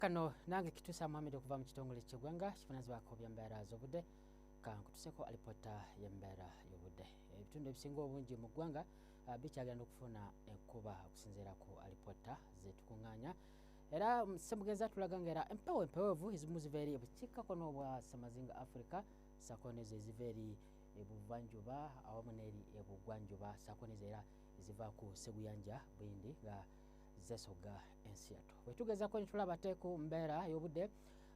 kano nange kitusa muhamed okuva mu kitongole kyegwanga kifunazibwako byembeera z'obudde kankutuseko alipota yembeera y'obudde ebitundu ebisinga obungi mu ggwanga ah, bikyagenda okufuna enkuba okusinziira ku alipota zetukunganya era mm, semugenzi atulaga nga era empewo empewevu ezimu ziva eri ebukiikako n'obwa samazinga africa sako nezo eziva eri ebuvanjuba awamu n'eri ebugwanjuba sako nezo era eziva ku seguyanja bwindi nga zesoga ensi yatu wetugezako netulaba te ku mbeera y'obudde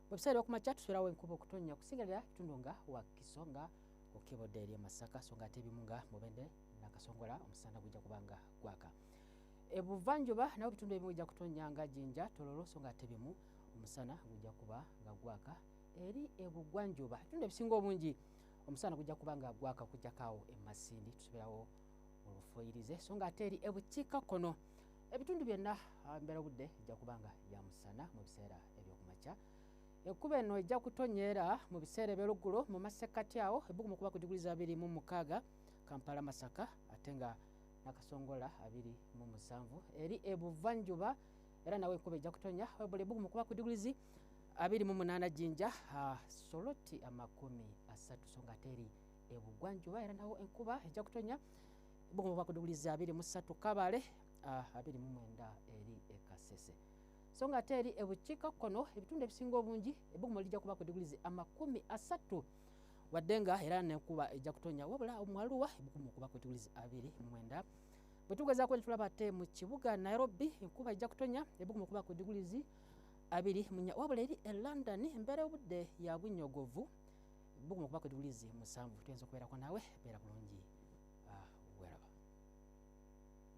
bwebiseera okumakya tusulawo enkuba okutonnya okusingalira ekitundu nga wakiso nga okebodde eri emasaka so nga ate ebimu nga mubende nakasongola omusana gujja kuba nga gwaka ebuvanjuba nabo bitundu ebimu bijja kutonnya nga jinja tololo so nga ate bimu omusana gujja kuba nga gwaka eri ebugwanjuba ebitundu ebisinga obungi omusana gujja kuba nga gwaka kujjakaawo emasindi tusoberawo olufoyirize so nga ate eri ebukiika kkono ebitundu byonna ah, mbeera obudde ejja kuba nga ya musana mu biseera ebyokumakya ekkuba eno ejja kutonyeera mu biseera ebyoluggulo mu masekkati awo ebbugumu okuba ku diguli za abiri mu mukaaga kampala masaka ate nga nakasongola abiri mu musanvu eri ebuvanjuba era nawe enkuba ejja kutonya webula ebbugumu okuba ku diguli zi abiri mu munaana jinja ah, soloti amakumi asatu so nga ate eri ebugwanjuba era nawo enkuba ejja kutonya bugumu bwa kudugulizi abiri mu ssatu kabale ah, abiri mu mwenda eri ekasese so nga ate eri ebukiika kkono ebitundu ebisinga obungi ebugumu lijja kuba kudugulizi amakumi asatu wadde nga era nenkuba ejja kutonya wabula omuwaluwa ebugumu okuba kudugulizi abiri mu mwenda bwe tugezaako ne tulaba ate mu kibuga nairobi enkuba ejja kutonya ebugumu okuba kudugulizi abiri munya wabula eri e london embeera obudde ya bunyogovu buguma okuba kwetubulizi musanvu tuyinza okubeerako naawe beera bulungi ah, weraba